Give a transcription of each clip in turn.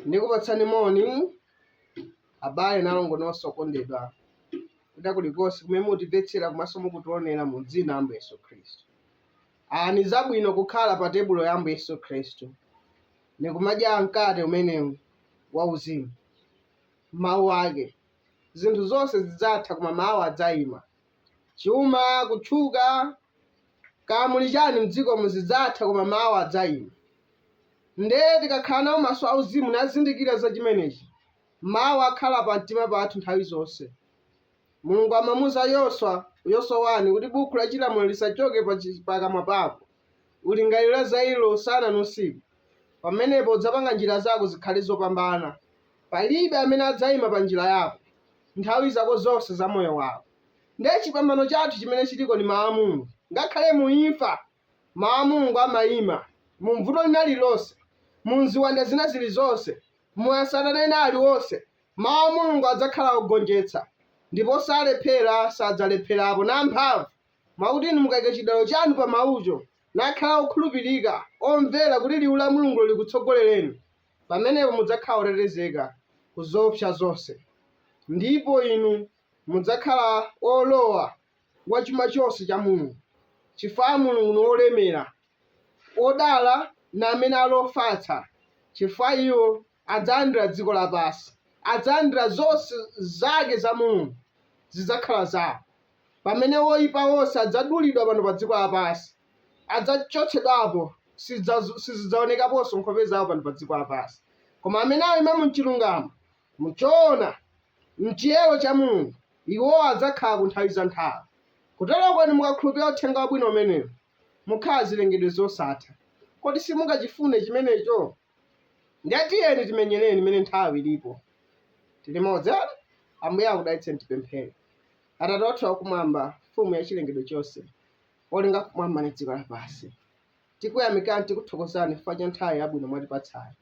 ndikupatsani moni abale na alongo nonse okondedwa kwina kulikonse kumene mutimvetsera komanso mukutionera mu dzina la ambuye yesu khristu aa ni zabwino kukhala pa tebulo ya ambuye yesu khristu nikumadya mkate umenewu wauzimu Mawu ake, Zinthu zonse zidzatha koma Mawu adzaima. Chuma, kutchuka, kaya muli chani mdzikomu zidzatha koma Mawu adzaima. Nde tikakhala nawo maso auzimu nazindikira za chimenechi, Mawu akhala pamtima pathu nthawi zonse. Mulungu amamuuza Yoswa, Yoswa 1, kuti bukhu la chilamulo lisachoke pa chi, pa kamwa pako. Ulingalire za ilo usana ndi usiku. Pamenepo udzapanga njira zako zikhale zopambana. Palibe amene adzaima pa njira yako, nthawi zako zonse za moyo wako. Ndiye chipambano chathu chimene chiriko ndi Mawu a Mulungu. Ngakhale mu imfa, Mawu a Mulungu amaima. Mu mvuto lina lililonse, mu nziwanda zina zilizonse, mu asatana ena aliwonse, Mawu a Mulungu adzakhala ogonjetsa, ndipo salephera, sadzalepherapo, na amphamvu. Mwakuti inu mukaika cidalilo canu pa Mawuco, nakhala okhulupirika, omvera kuti Liwu la Mulungulo likutsogoleleni, pamenepo mudzakhala otetezeka ku zoopsya zonse, ndipo inu mudzakhala olowa wa cuma conse ca Mulungu, cifukwa Mulungu ni wolemera. Odala ni amene ali ofatsa, cifukwa iwo adzalandira dziko lapansi, adzalandira zonse zake za Mulungu, zidzakhala zawo, pamene woipa wonse adzadulidwa pano pa dziko lapansi, adzachotsedwapo, sizidzaonekaponso nkhope zawo pano pa dziko lapansi. Koma amene aima mu chirungamo, mu choona, mchiyero cha Mulungu, iwo adzakhala ku nthawi za nthawi. Kuteroko inu mukakhulupirira Uthenga Wabwino umenewu, mukhala zirengedwe zosatha. Kodi simungachifune chimenecho? Ndiye tiyeni timenyereni mene nthawi ilipo. Ti limodzi? Ambuye akudalitseni tipemphere. Atate wathu wakumwamba, mfumu ya chilengedwe chonse, olenga kumwamba ndi dziko lapansi. Tikuyamikani tikuthokozani chifukwa cha nthawi yabwino mwatipatsayi.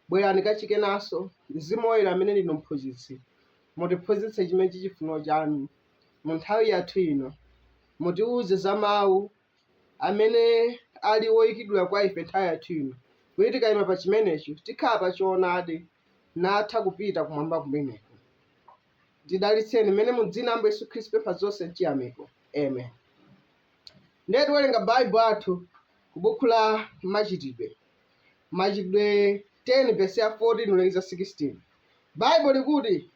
Bwerani kachikenanso, Mzimu Woyera amene ndinu mphunzitsi, mutiphunzitse chimene chichifuniro chanu mu nthawi yathu ino. Mutiwuze za mawu amene ali woikidwa kwa ife nthawi yathu ino, kuti tikaima pa chimenecho, tikhala pa Choonadi, natha kupita Kumwamba kumeneko. Tidalitseni mmene mu Dzina la Ambuye Yesu Khristu pempha zonse mchiyamiko. Amen. Ndiye tiwerenga Baibulo athu ku buku la Machitidwe, Machitidwe 10 vesi ya 14 ulekeza 16. Baibulo likuti,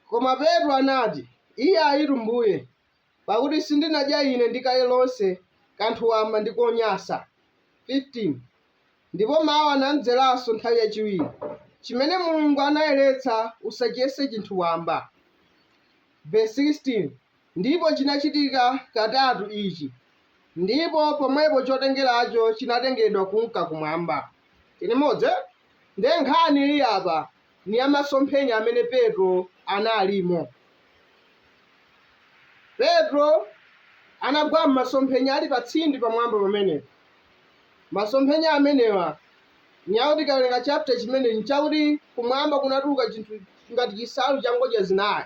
koma Petro anati, Iyayitu Mbuye, pakuti sindinadya ine ndi kale lonse kanthu wamba ndi konyansa. 15 ndipo mawu anamdzeranso nthawi yachiwiri, chimene Mulungu anayeretsa usachiyese chinthu wamba. Verse 16 ndipo chinachitika katatu ichi, ndipo pomwepo chotengeracho chinatengedwa kunka kumwamba. Tili modzi? Nde nkhani ili apa, ni ya masomphenya amene Petro analimo. Petro anagwa m'masomphenya ali patsindi pamwamba pamenepo. Masomphenya amenewa ni yakuti tikawerenga chapita chimenechi n'chakuti kumwamba kunatuluka chinthu ngati chinsalu cha ngodya zinayi.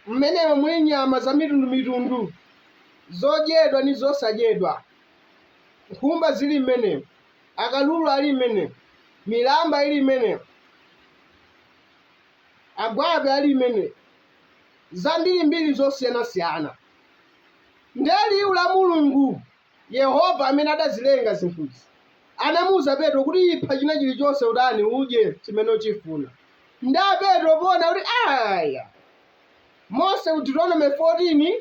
Mmenemo muli nyama zamitundu-mitundu, zodyedwa ni zosadyedwa. Nkhumba zili mmenemo, Akalulu ali mmenemo. Milamba ili mmenemo. Agwape ali mmenemo. Zambiri mbiri zosiyanasiyana. Ndiye Liwu la Mulungu, Yehova amene adazilenga zinthuzi, anamuuza Petro kuti ipha china chirichonse utani udye chimene uchifuna. Ndiye Petro poona kuti aya! Mose ku Deuteronome 14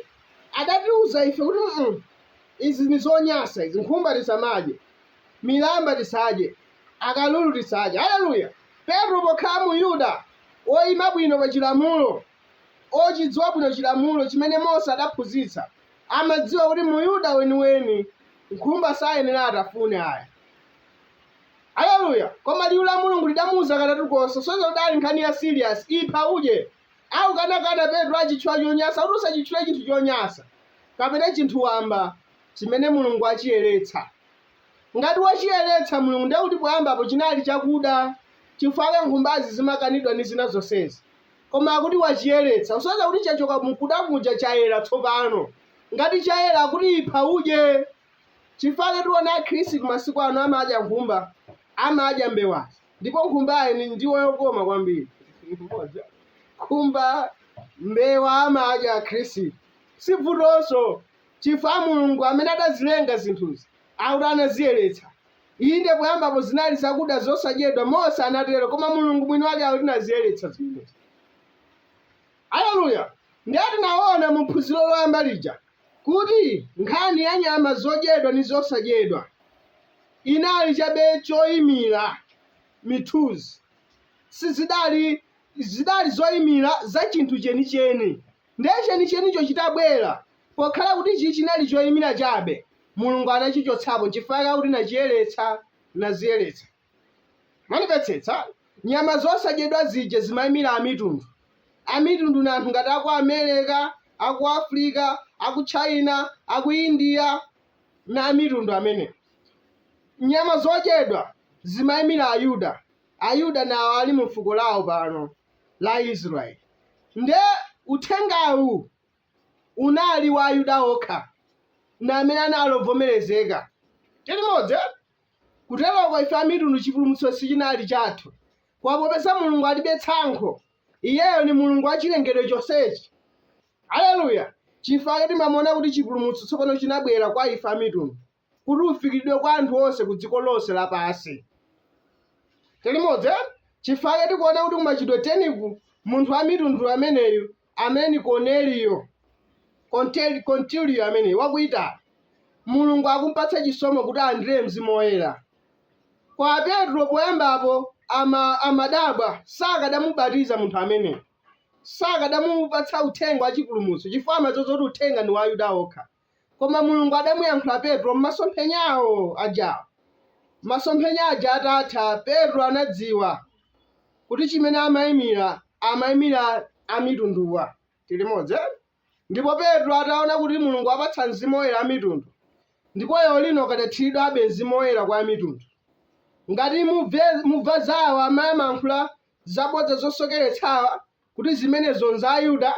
adatiuza ife kuti mm, Izi ni zonyansa izi. Nkhumba tisamadye. Milamba tisadye. Akalulu tisadye. Aleluya! Petro pokhala Muyuda, oima bwino pa chilamulo, ochidziwa bwino chilamulo chimene Mose adaphunzitsa, amadziwa kuti Muyuda weniweni nkhumba sayenera atafune aya. Aleluya! Koma liu la Mulungu lidamuuza katatu konse, kusonyeza kuti idali nkhani ya serious, ipha udye. Akukanakana Petro achitchula chonyasa kuti usachitchule chinthu chonyasa kapena chinthu wamba chimene Mulungu wachiyeretsa. Ngati wachiyeretsa Mulungu ndiye kuti poyambapo chinali chakuda chifukwa nkhumbazi zimakanidwa ndi zina zonsezi. Koma akuti wachiyeretsa kusonyeza kuti chachoka mukuda muja chayera tsopano. Ngati chayera akuti ipha udye. Chifukwa tiona akhristu masiku ano amadya nkhumba, amadya mbewazi. ndipo nkhumbayi ni ndiwo yokoma kwambiri nkhumba mbewa amadya akhristu sibvutonso chifukwa mulungu amene adazilenga zinthuzi akuti anaziyeretsa inde poyambapo zinali zakuda zosadyedwa mose anatero koma mulungu mwini wake akuti naziyeretsa zimenezi Aleluya! Ndiye tinaona mu phunziro loyamba lija kuti nkhani ya nyama zodyedwa ndi zosadyedwa inali chabe choyimira, mithunzi. Sizidali, zidali zoyimira za chinthu chenicheni. Ndiye chenichenicho chitabwera, pokhala kuti ichi chinali choyimira chabe, Mulungu anachichotsapo chifukwa chakuti nachiyeretsa, naziyeretsa. Mwandimvetsetsa? Nyama zosadyedwa zija zimaimira Amitundu. Amitundu ndi anthu ngati aku Amereka, aku Afrika, aku China, aku India, na Amitundu amenewo. Nyama zodyedwa zimaimira Ayuda. Ayuda ni awa ali mu fuko lawo pano la Israeli. Nde uthengawu unali wa Ayuda okha, na amene anali obvomerezeka. Tili limodzi eti? Kuteroko ife Amitundu chipulumutso sichinali chathu. Koma popeza Mulungu alibe tsankho, Iyeyo ndi Mulungu wa chirengedwe chonsechi. Aleluya! Chifukwa chake timamuona kuti chipulumutso tsopano chinabwera kwa ife Amitundu, kuti ufikiridwe kwa anthu onse ku dziko lonse lapansi. Tiri limodzi, eti? Chifukwa chake tikuona kuti ku Machitidwe 10 ku, munthu Wamitunduyo ameneyu Amene ni Korneliyo, konteli, kontiliyo ameneyo, waku Italy, Mulungu akumupatsa chisomo kuti alandire Mzimu Woyera. Kwa a Petro, poyambapo, ama, amadabwa, sakadamubatiza munthu ameneyo, sakadamupatsa uthenga wa chipulumutso, chifukwa amadziwa zoti uthenga ndi wa Ayuda okha. Koma Mulungu adamuyankhula Petro m'masomphenyawo ajawo. Masomphenya aja atatha, Petro anadziwa kuti chimene amaimira, amaimira Amitunduwa. Tili limodzi eh? Ndipo Petro ataona kuti Mulungu wapatsa Mzimu Woyera Amitundu, ndipo lero lino kadathiridwabe Mzimu Woyera kwa Amitundu. Ngati mubve, mubva zawo amayankhula zabodza zosokeretsawa, kuti zimenezo nza Ayuda?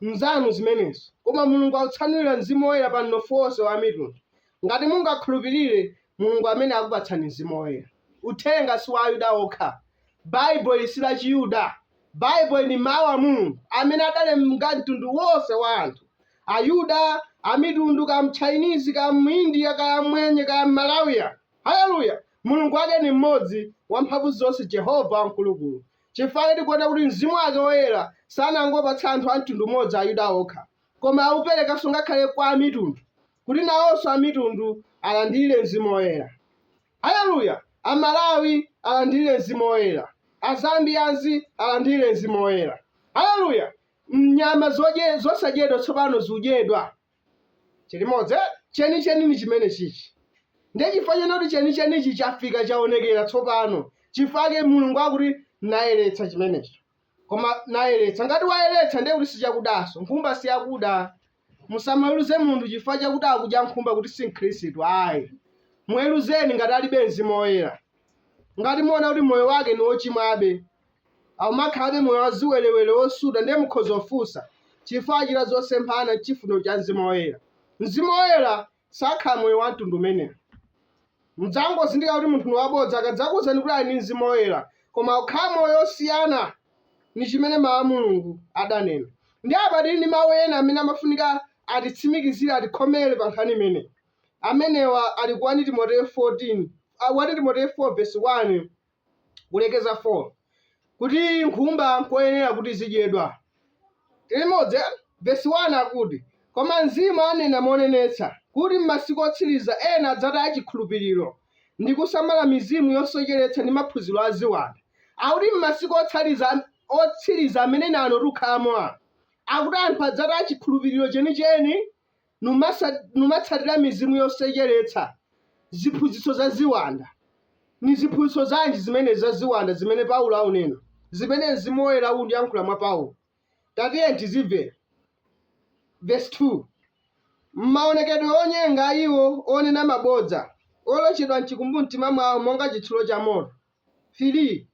Nzanu zimenezo. Koma Mulungu akutsanulira Mzimu Woyera pa mnofu wonse wa Amitundu, ngati mungakhulupirire, Mulungu amene akupatsani Mzimu Woyera. Uthenga si wa Ayuda okha. Baibulo ili si la Chiyuda. Baibulo ili ndi Mawu a Mulungu amene adalenga mtundu wonse wa anthu, Ayuda, Amitundu, kaya Mtchainizi, kaya Muindiya, kaya Mmwenye, kaya Mmalawiya. Haleluya! Mulungu wake ndi mmodzi, Wamphamvuzonse, Jehovah Wamkulukulu. chifukwa chake tikuona kuti mzimu wake woyera sanangopatsa anthu a mtundu umodzi Ayuda okha, koma auperekanso ngakhale kwa amitundu, kuti nawonso amitundu alandire mzimu woyera. Haleluya! Amalawi alandire mzimu woyera. Azambiyazi alandire mzimu woyera. Haleluya! Nyama zodye zosadyedwa tsopano zudyedwa. tili limodzi eh? chenicheni ni chimene chichi ndiye chifukwa chake kuti chenichenichi chafika chaonekera tsopano chifukwa chake mulungu akuti nayeretsa chimenecho koma nayeretsa ngati wayeretsa ndiye kuti sichakudanso nkhumba siyakuda musamaweruze munthu chifukwa chakuti akudya nkhumba kuti si mkhristu ayi muweruzeni ngati alibe mzimu woyera ngati muona kuti moyo wake ni wochimwabe aumakhalabe moyo wa ziwerewere wosuta, ndiye mukhoza kufunsa, Chifukwa achita zosemphana ndi chifuniro cha Mzimu Woyera? Mzimu Woyera sakhala moyo wa mtundu umenewo. Mudzangozindikira kuti munthu ni wabodza akadzakuwuzani kuti ali ndi Mzimu Woyera, koma aukhala moyo wosiyana ndi chimene Mawu a Mulungu adanena. Ndiye apa tili ndi mawu ena amene amafunika atitsimikizire, atikhomere pa nkhani imeneyi. Amenewa ali ku 1 Timoteyo 14, ah, 1 Timoteyo 4 vesi 1 kulekeza 4 kuti nkhumba nkoyenera kuti zidyedwa. Tili limodzi eh? Vesi 1 akuti, Koma mzimu anena monenetsa, kuti m'masiku otsiriza ena adzataya chikhulupiriro, ndi kusamala mizimu yosocheretsa ndi maphunziro a ziwanda. Akuti m'masiku otsiriza amenene ano tikukhalamo. Akuti anthu adzataya chikhulupiriro chenicheni. numatsatira mizimu yosocheretsa, ziphunzitso za ziwanda. Ni ziphunzitso zanji zimenezi za ziwanda zimene Paulo aunena, zimene mzimu woyera unkayankhula mwa Paulo? Tatiyeni tizimvera. Verse 2 m'maonekedwe onyenga a iwo onena mabodza, olochedwa m'chikumbumtima mwawo monga chitsulo cha moto. 3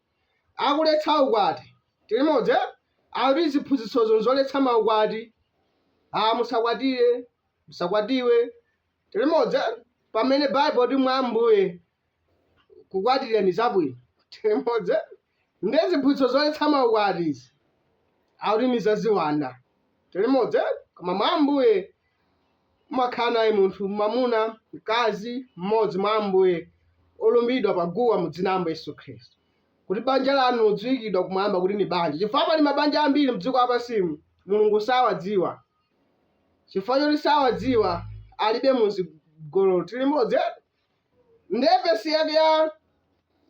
akuletsa ukwati. Tili limodzi eh? Akuti ziphunzitsozo nzoletsa maukwati. Ah, musakwatire, musakwatiwe. Tili limodzi eh? Pamene Bible ikuti mwa Ambuye kukwatira ni zabwino. Tili limodzi eh? Nde ziphunzitso zoletsa maukwati izi. Akuti ni za ziwanda. Tili limodzi eh? Koma mwa Ambuye umakhala naye munthu mwamuna, mkazi mmodzi mwa Ambuye olumbidwa pa guwa mu dzina la Ambuye Yesu Khristu, kuti banja lanu lidziwikidwa kumwamba kuti ni banja. Chifukwa pali mabanja ambiri mdziko lapansimu Mulungu sawadziwa, chifukwa choti sawadziwa alibe mu zigololo tili limodzi. Nde vesi yake ya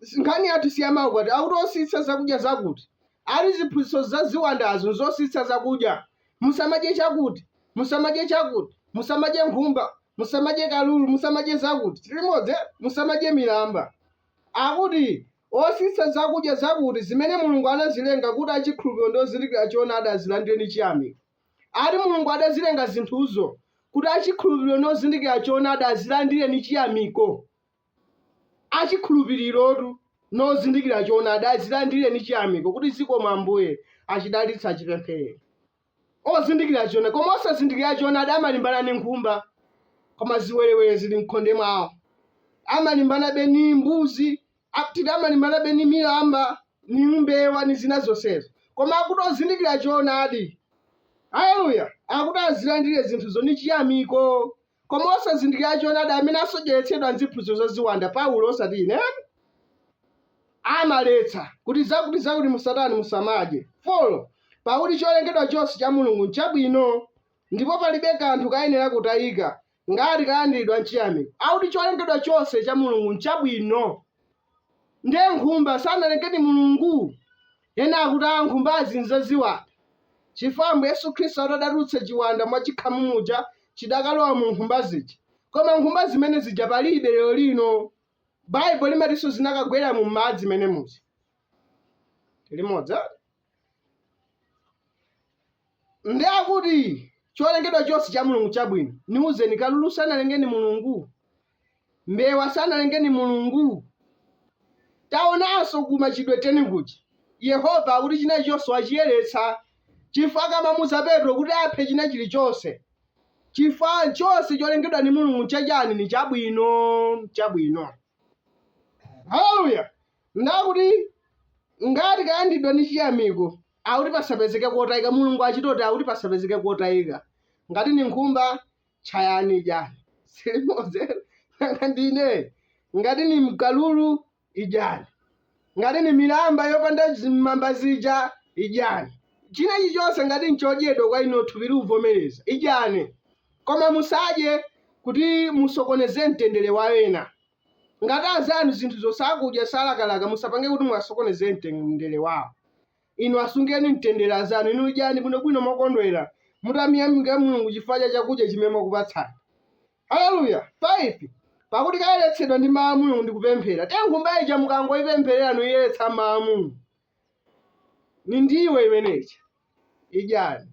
si- nkhani yathu si ya maukwati akuti ositsa zakudya zakuti ali ziphunzitso za ziwandazo nzositsa zakudya musamadye chakuti musamadye chakuti musamadye nkhumba musamadye kalulu musamadye zakuti tilimodzi musamadye milamba akuti ositsa zakudya zakuti zimene mulungu anazilenga kuti achikhulupiriro ndi ozindikira choonadi azilandire ndi chiyamiko ati Mulungu adazilenga zinthuzo kuti achikhulupiriro nozindikira choonadi azilandire ndi chiyamiko. Achikhulupirirotu nozindikira choonadi azilandire ndi chiyamiko kuti zikomo Ambuye, achidalitse achipemphere. Ozindikira choonadi koma osazindikira choonadi amalimbana ni nkhumba koma ziwerewere zili m'khonde mwawo. Amalimbanabe ni mbuzi Akuti amalimbanabe ni milamba, ni mbewa, ni zina zonsezo, koma akuti ozindikira choonadi, haleluya, akuti azilandire zinthuzo ni chiyamiko. Koma osazindikira choonadi amene asocheretsedwa ndi ziphunzitso za ziwanda, Paulo osati ine, amaletsa kuti zakuti-zakuti musatani, musamadye, 4 pakuti cholengedwa chonse cha Mulungu nchabwino, ndipo palibe kanthu kayenera kutayika, ngati kalandiridwa nchiyamiko, akuti cholengedwa chonse cha Mulungu nchabwino. Ndiye nkhumba sanalenge ni Mulungu? Ena akuti aa nkhumbazi nzaziwanda chifukwa Ambuye Yesu Khristu atadatulutsa chiwanda mwa chikhamu muja chidakalowa mu nkhumba zija. Koma nkhumba zimene zija palibe lero lino. Baibulo limatinso zinakagwera mu madzi mene muja. Tili limodzi? ndi akuti cholengedwa chonse cha mulungu chabwino niuzeni kalulu sanalenge ni mulungu mbewa sanalenge ni mulungu taonanso ku machitidwe teni kuja yehova akuti china chilichonse wachiyeretsa chifukwa kamamuza petro kuti aphe china chilichonse chifukwa chonse cholengedwa ni mulungu nchachani ni chabwino chabwino haleluya Ndakuti ngati kalandiridwa ni chiyamiko, akuti pasapezeke kotayika, Mulungu achitoti akuti pasapezeke kotayika. Ngati ni nkhumba, tchayani idyani. Tili limodzi. Nanga ndine? Ngati ni kalulu, idyani. Ngati ndi milamba yopanda mamba zija, idyani. China chilichonse ngati nchodyedwa kwa inuyo thupi likuvomereza, idyani. Koma musadye kuti musokoneze mtendere wa ena. Ngati anzanu zinthuzo sakudya, salakalaka, musapange kuti muwasokoneze mtendere wawo. Inu asungeni mtendere anzanu. Inu idyani bwinobwino mokondwera, mutamuyamika Mulungu chifukwa cha chakudya chimene wakupatsani. Haleluya! 5 pakuti kayeretsedwa ndi mau a Mulungu ndi kupemphera. Nde nkhumba ija mukangoipempherera, nuiyeretsa mau a Mulungu. Ni ndiwo imeneija. Idyani.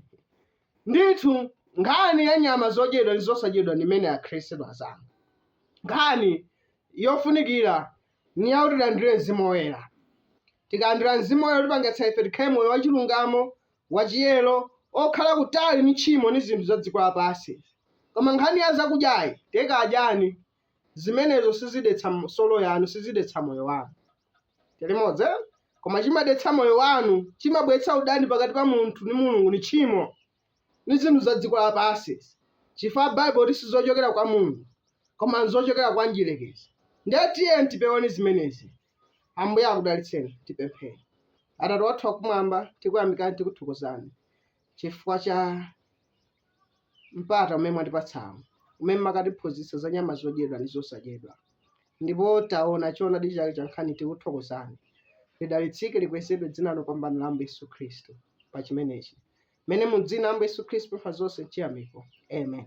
Ndithu, nkhani ya nyama zodyedwa ndi zosadyedwa ni imene Akhristu azanga. Nkhani yofunikira ni yakuti tilandire Mzimu Woyera. Tikalandira Mzimu Woyera utipangitsa ife tikhale moyo wachilungamo, wachiyero, okhala kutali ni tchimo ni zinthu za dziko lapansi. Koma nkhani ya zakudyayi, tekadyani. zimenezo sizidetsa m- solo yanu sizidetsa moyo wanu tili modzi eh? koma chimadetsa moyo wanu chimabweretsa udani pakati pa munthu ndi mulungu ni tchimo ni zinthu za dziko lapansi chifukwa baibulo liti sizochokera kwa mulungu koma nzochokera kwa mdyerekezi ndiye tiyeni tipeweni zimenezi ambuye akudalitseni tipemphere atate wathu wakumwamba tikuyamikani tikuthokozani chifukwa cha mpata umene mwatipatsawu, umene mumatiphunzitsa za nyama zodyedwa ndi zosadyedwa. Ndipo taona choonadi chake cha nkhani tikuthokozani. Lidalitsike likwezedwe dzina lopambana la Ambuye Yesu Khristu pa chimenechi. Mmene mu dzina la Ambuye Yesu Khristu tapempha zonse m'chiyamiko. Amen.